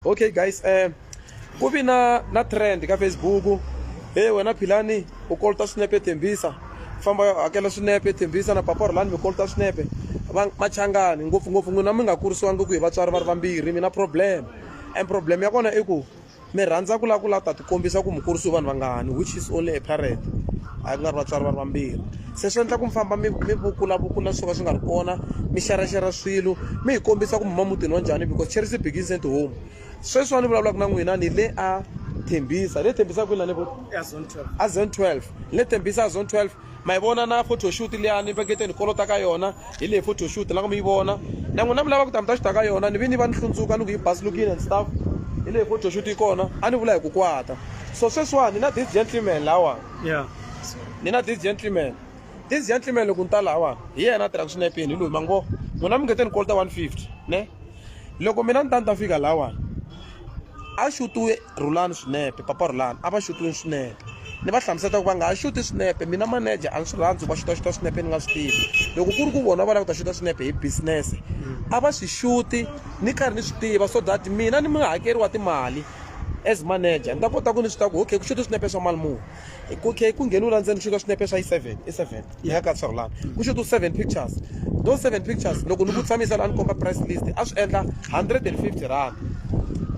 okay guys um ku vi na na trend ka facebook e hey, wena philani u kolota swinepe thembisa famba yo hakela swinepe thembisa na papa rolani mi kolota swinepe machangani ngopfungopfu n'wina mi nga kurisiwangi ku hi vatswari va ri vambirhi mi na problem and problem ya kona i ku mi rhandza ku lava ku lava ta tikombisa ku mi kurisiwe vanhu vangani which is only a parent a ku nga ri vatswari va ri vambirhi se swi endla ku mi famba mi mi vukulavukula swo ka swi nga ri kona mi xeraxera swilo mi hi kombisa ku mi huma mutini wa njhani because charity begins at home sweswiwani ni vulavulaka na n'wina ni le a thembisa le thembisa kwini lani a zone 12 le thembisa a zone 12 ma yi vona na photo shoot liyani pakete ni kolota ka yona hi leyi photo shoot la ku mi yi vona na n'wina mi lava ku ta mi ta xuta ka yona ni vi ni va ni hlundzuka ni ku yi basilukile and stuff hi leyi photo shoot yi kona a ni vula hi ku kwata so sweswiwani na this gentleman lawa ya ni na this gentleman this gentleman loko ni ta lahawani hi yena a tirhaka swinepe yini hi loyi mango n'wina mi nge te ni kolota 150 ne loko mina ni ta ni ta fika lahawani a xutiwe rhulani swinepe papa rhulani a va xutiwe swinepe ni va hlamusela ku va nga ha xuti swinepe mina manager a ni swi rhandzi va xutaxuta swinepe ni nga swi tivi loko ku ri ku vona va lava ku ta xuta swinepe hi business a va swi xuti ni karhi ni swi tiva so that mina ni munghakeri wa timali as manager ni ta kota ku ni swi ta ku okay ku xota swinepe swa mali muni okay ku ngheniwa la ndzeni ku xota swinepe swa yi seven i seven yi haka swa rulana ku xota seven pictures those seven pictures loko ni ku tshamisa la ni komba price list a swi endla hundred and fifty rand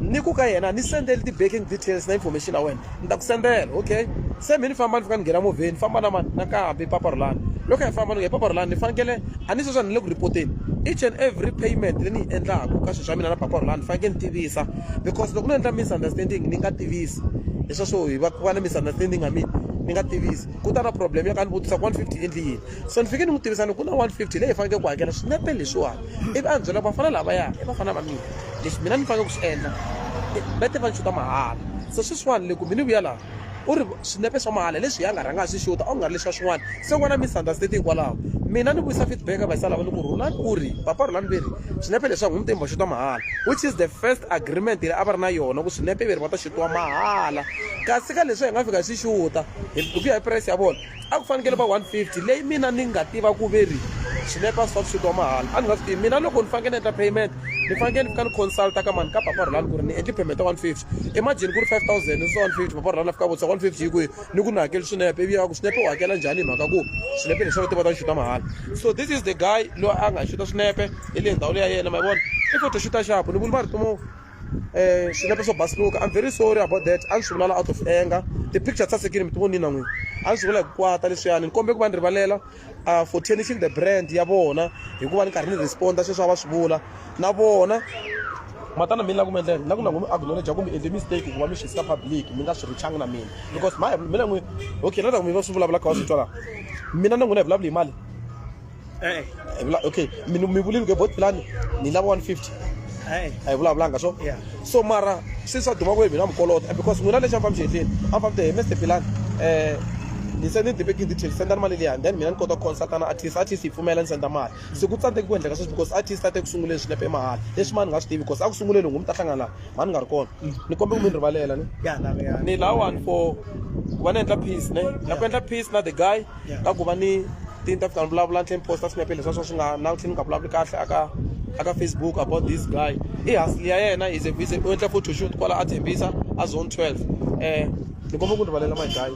ni ku ka yena ni sendele ti-baking details na information ya wena ni ta ku sendela okay se mi ni famba ni fika ni nghena movheni famba na mani nakambe papa rulani loko hi famba ni nge papa rulani ni fanekele a ni sweswa ni le ku report-eni each and every payment leyi ni yi endlaka ka swilo swa mina na papa rulani ni fanekele ni tivisa because loko no endla misunderstanding ni nga tivisi leswa swo hi va ku va na misunderstanding ya mina ni nga tivisi ku ta na problem ya ka ni vutisa ku 150 endli yini so ni fike ni n'wi tivisa ni ku na 150 leyi faneleke ku hakela swinepe leswiwani ivi a ni byela ku vafana lava ya i vafana va mina leswi mina ni faneleke ku swi endla va te va ni xuta mahala so sweswiwani le ku mi ni vuya laha u ri swinepe swa mahala leswiya a nga rhanga a swi xuta a ku nga ri leswiya swin'wana se n'wana misunderstate hikwalaho mina ni vuyisa feedback ka vayisa lava ni ku rhulani u ri papa rhulani ve ri swinepe leswi a n'wi mutembo xuta mahala which is the first agreement leyi a va ri na yona ku swinepe ve ri va ta xutiwa mahala kasi ka leswi hi nga fika hi swi xuta hi ku ya hi price ya vona a ku fanekele va 150 leyi mina ni nga tiva ku ve ri swinepa swi va swi wa mahala a ni nga swi tivi mina loko ni fanekele ni endla payment ni fanekele ni fika ni consulta ka mani ka papa rhulani ku ri ni endle payment ya 150 emajini ku ri 5000 ni swa 150 papa rhulani a fika vutisa 150 yi kwihi ni ku ni hakeli swinepe ivi ya ku swinepe u hakela njhani hi mhaka ku swinepe leswi va tiva ta xuta mahala so this is the guy loyi a nga xuta swinepe hi le ndhawu leyi ya yena ma yi vona i photoxuta xapu ni vula va ri tomo eh swinepe swo basuluka i'm very sorry about that a ni swi vulala out of anger ti-picture ti sasekile mi ti vonini na n'wini a ni swi vula hi ku kwata leswiyani ni kombe ku va ni rivalela uh, for tenishing the brand ya vona hikuva ni karhi ni responda sweswi a va swi vula na vona matana mina ku mi endlela na ku na ku mi acknowledge ku mi endle mistake ku va mi xisisa public mi nga swi richangi na mina because my mina n'wini okay na ta ku mi va swi vulavula kha va swi twa laha mina na n'wina hi vulavula hi mali Eh. a hi vula okay mi mi vulile ku bot plan ni lava 150 Eh. a hi vulavulanga so Yeah. so mara se swa duma ku hi mina mukolota because n'wina lexi a mi fambi xihehleni a mi fambi te mr pilani um ni se ni ni tiveki detail sendani mali liyani then mina ni kota ku consulta na artist artist yi pfumela ni senda mali se ku tsandzeki ku endleka sweswi because artist a te ku sunguleni swinepe i mahala leswi mani nga swi tivi because a ku sunguleni ngumi ta hlangana laha mani nga ri kona ni kombe ku mi ni rivalela ni Ya, na ya. ni lawani for ku va ni endla peace ne na ku endla peace na the guy ka ku va ni tinta ku ta ni vulavula ni tlhe ni posta swinepe leswi swa swi nga na tlhe ni nga vulavuli kahle aka aka facebook about this guy i hasli ya yena is is u endla photo shoot kwala a tshembisa a zone 12 um ni kombela ku rivalela my guy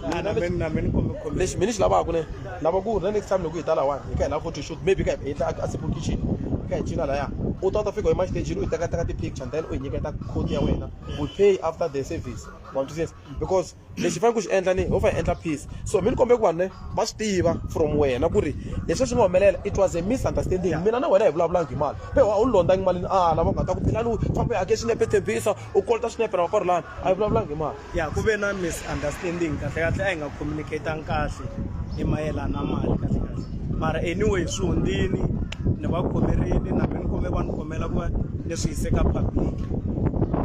lexi mina xi lavaka ne lava ku ri na next time loko hi ta lawani hi ka hi lava photo shoot maybe ka hi endla a simple kitchen hi ka hi cina laya u ta u ta fika hi maxitejini u yi tekateka ti-picture then u hi nyiketa code ya wena we pay after the service wa twisisa because lexi fanele ku xi endla ni ho fa hi endla peace so mi ni kombela ku vanhu va swi tiva from wena ku ri leswi swi nga humelela it was a misunderstanding mina na wena hi vulavulangi hi mali pe a wu ni londhangi malini a ah, lava nga ta ku philani fambe hake swinepe tshembisa u kolota swinepe na vakorolani a hi vulavulangi hi mali ya ku ve na misunderstanding kahle kahle a hi nga communicatanga kahle hi mayelana na mali kahle kahle mara anyway swi hundzini ni va khomerini na mi ni kome va ni khomela ku va ni swi yise ka public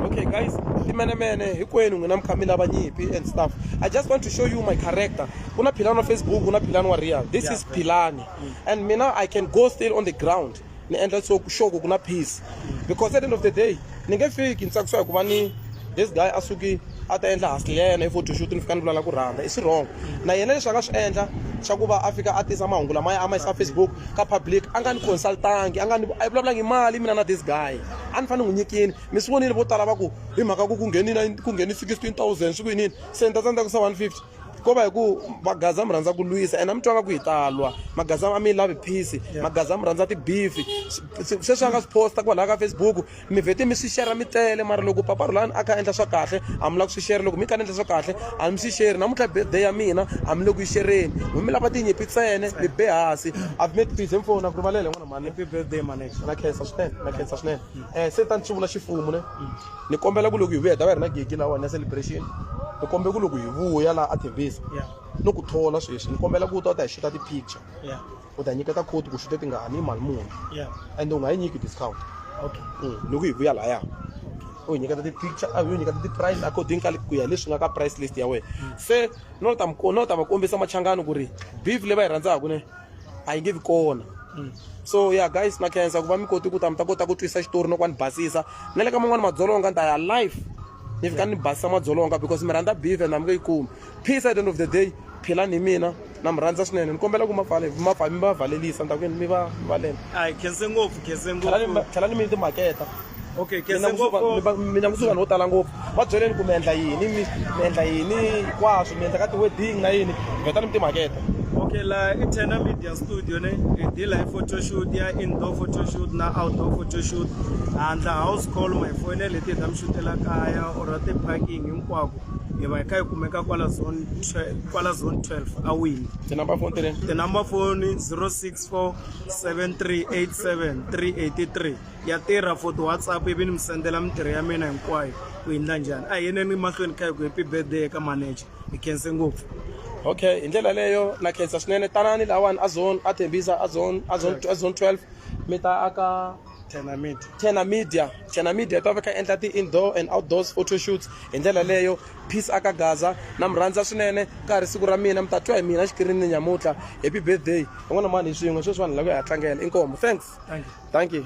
okay guys timenemene hinkwenu n'wina mi kha mi lava nyimpi and stuff i just want to show you my character ku na philani wa facebook ku na philani wa real this yeah, is philani mm. and mina i can go still on the ground ni endla so ku sure ku ku na peace because at the end of the day ni nge fiki ni tsakisiwa hikuva ni this guy a suki a ta endla hasi yena i photoshoot ni fika ni vulala ku rhamba i swi wrong na yena leswi a nga swi endla xa ku va a fika a tisa mahungu lamaya a ma yisa facebook ka public a nga ni consultangi a nga ni a yi vulavulangi mali mina na this guy a ni fanele n'wi nyikini mi swi vonile vo tala va ku hi mhaka ku ku nghenile ku nghene sixteen thousand swi ku yinini se ni ta tsandzeka ku sa one fifty ko va hi ku magaza mi rhandza ku lwisa ena mi twa nga ku hi talwa magaza a mi lavi peace magaza mi rhandza tibifi sweswi a nga swi posta kwalaha ka facebook mi vhete mi swi shera mi tele mara loko papa rhulani a kha a endla swa kahle a mi lava ku swi shera loko mi kha ni endla swa kahle a mi swi sheri namuntlha birthday ya mina a mi le ku yi xereni mi mi lava tinyimpi tsene mi be hansi i've made peace hi fona ku rivalele n'wana mani happy birthday mane na khensa swinene na khensa swinene um se tani swi vula xifumu ne ni kombela ku loko hi vuya ta va hi ri na gigi lawani ya celebration ni kombela ku loko hi vuya laha a tevisa ni ku thola sweswi ni kombela ku u ta u ta hi xuta ti-picture u ta nyiketa code ku xuta tingani mali muni and u nga yi nyiki discount mm, loko hi vuya laya u hi nyiketa ti-picture a hi nyiketa ti-price according ka ku ya leswi nga ka price list ya wena mm. se no ta no ta va kombisa machangani ku ri beef leyi va yi rhandzaka ne a yi nge vi kona mm. so ya yeah, guys na khensa ku va mi koti ku ta mi ta kota ku twisa xitori no ku va ni basisa na le ka man'wani madzolonga ni ta ya life ni fika ni basisa madzolonga because mi rhandza beef and a mi nge yi kumi peace at the end of the day philani hi mina na mi rhandza swinene ni kombela ku mapfale mapfale mi va valelisa ni ta ku yini mi va mi valele a hi khense ngopfu khense ngopfu tlhela ni mi timaketa okay mina kese mundzuku ngopfu va- mi- mina mundzuku vanhu vo tala ngopfu va byeleni ku mi endla yini mi mi endla yini hinkwaswo mi endla ka ti-wedding na yini vhetani mi timaketa okay la i tena media studio ne hi deal hi photoshoot ya indoor photoshoot na outdoor photoshoot handla house call ma hi foyinele hi ti hi ta mi shutela kaya or ti-parking hinkwako hi va hi kha hi kumeka kwala zone 12 kwala zone 12 a wini tinamba foni tireni tinamba foni 064 7387 383 ya tirha for ti-whatsapp ivi ni mi sendela mintirho ya mina hinkwayo ku yi ndla njhani a hi yeneni mahlweni kha hi ku happy birthday eka manager hi khense ngopfu okay hi ndlela leyo na khensa swinene tanani lawani a zone a thembisa a zone a zone a zone 12 mi ta aka tena media tena media tena media ta va kha endla ti-indoor and outdoors photo shoots hi ndlela leyo Peace aka Gaza na mi rhandza swinene ka ha ri siku ra mina mi ta twa hi mina xikirini nyamutlha happy birthday van'wana mani hi swin'we sweswi vanhu lava ya ha tlangela inkomo thanks thank you